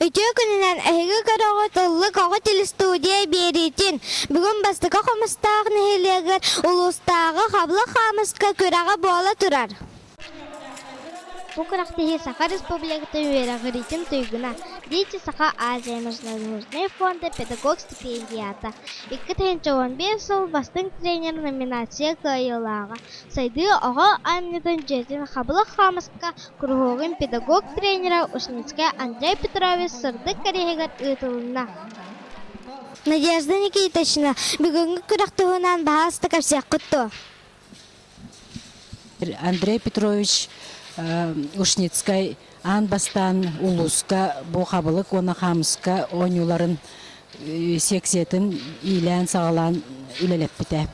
Үтүө күнүнэн эһиги көрөҕү Тыллык оҕо телестудия биэриитин бүгүн бастакы хомустаах нэһилиэгэр улуустааҕы Хабла хаамыска күрэҕэ буола турар. Бу күрэхтэһии Саха Республикатын үөрэҕириитин туйгуна, Дети Саха Азия международный фонда педагог стипендията, Икки тыһыынча уон биир сыл бастыҥ тренер номинация кыайыылааҕа, сайдыы оҕо аанньатын дьиэтин Хабылах хаамыска куруһуогун педагог-тренерэ Ушницкай Андрей Петрович сырдык кэриэһигэр ыытылынна. Надежда Никитична, бүгүҥҥү күрэх туһунан баһаастык кэпсиэххит дуо? Андрей Петрович Ушницкай аан бастаан улууска бу хабылык уонна хаамыска оонньууларын секциятын иилээн-саҕалаан үлэлэппитэ.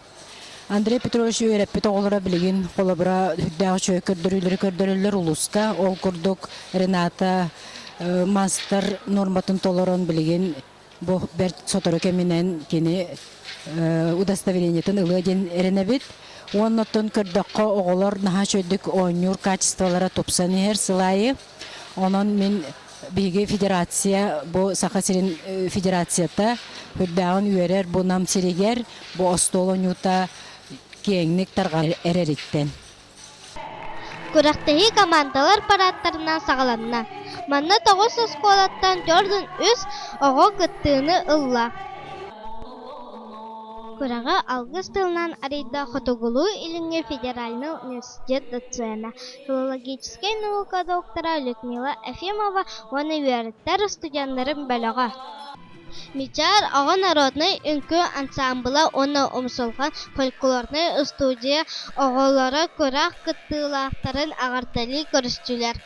Андрей Петрович үөрэппит оҕолоро билигин холобура сүрдээх үчүгэй көрдөрүүлэри көрдөрөллөр улууска. Ол курдук Рената мастер нуорматын толорон билигин Бу бэрт сотору кэминэн кини удостоверениетын ылыа диэн эрэнэбит. Уонна оттон көрдөххө, оҕолор наһаа үчүгэйдик оонньуур качестволара тупсан иһэр сыл аайы. Онон мин биһиги федерация бу Саха сирин федерацията үрдээҕин үөрэр бу Нам сиригэр бу остуол оонньуута киэҥник тарҕар эрэриттэн. Күрэхтэһии командалар параадтарынан саҕаланна. Манна тоҕус оскуолаттан төрт уон үс оҕо кыттыыны ылла. Күрэҕи алгыс тылынан арыйда Хотугулуу-Илиҥҥи федеральнай университет доцена, филологическай наука доктора Людмила Ефимова уонна үөрэттэр устудьуоннарын бөлөҕө Мичээр оҕо народнай үҥкүү ансаамбыла уонна умсулҕан фольклорнай устудьуйа оҕолоро күрэх кыттыылаахтарын эҕэрдэлии көрүстүлэр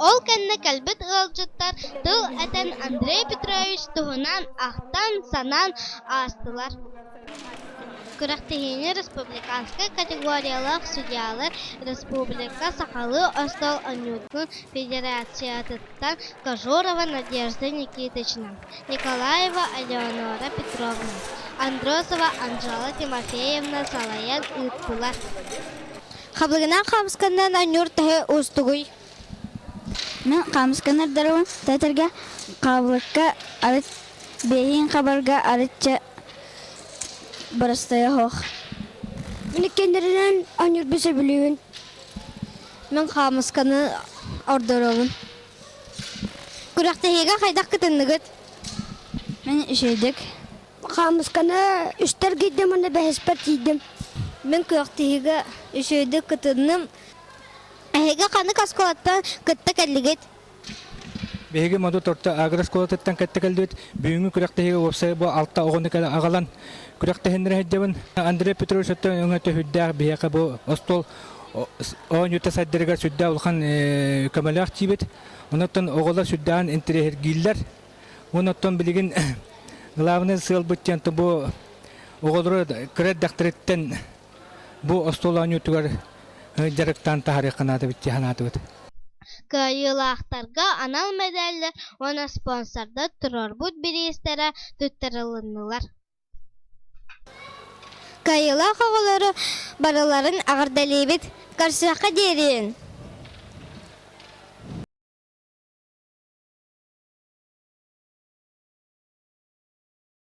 Ол кэннэ кэлбит ыалдьыттар тыл этэн Андрей Петрович туһунан ахтан-санаан аастылар Күрэхтэһиини республиканскай категориялаах судьялар республика сахалыы остуол оонньуутун федерациятыттан Кожурова Надежда Никитична, Николаева Элеонора Петровна, Андросова Анжела Тимофеевна салайан ыыттылар. Хабылгынан хаабысканнан анньуур таһы уустугуй хаамысканы ырдарабын эдэргэ хаабылакка арыт бэйэһин хабарга арытча бырастайа суох мин иккиэннэринэн оонньуурбун сөбүлүүбүн мин хаамысканы ордоробун күрэхтэһиигэ хайдах кытынныгыт мин үчэйдик хаамысканы үстэр гийдим уонна бэһиспэр тиийдим мин күрэхтэһиигэ үчэйдик кытынным Эһиги ханнык оскуолаттан кытта кэллигит? Биһиги моду торто агрооскуолатыттан кэтте кэлдибит. Бүгүҥҥү күрэхтэһиигэ уопсай бу алта оҕону кэлэ аҕалан күрэхтэһиннэр сылдьабын. Андрей Петрович өттө өҥө төһүрдээх биһиэхэ бу остуол оонньуута сайдарыгар сүрдээх улахан көмөлөөх диибит. Онуттан оҕолор сүрдээх интириэһиргииллэр. Онуттан билигин главный сыал быт диэн бу оҕолору кыра эрдэхтэриттэн Бу остуол оонньуутугар дьарыктаан таһаарыахха наадабыт дии санаатыбыт. Кыайыылаахтарга анал мэдээллэр уонна спонсордар туруорбут бириистэрэ туттарылыннылар. Кыайыылаах оҕолору барыларын эҕэрдэлиибит! Көрсүөххэ диэри!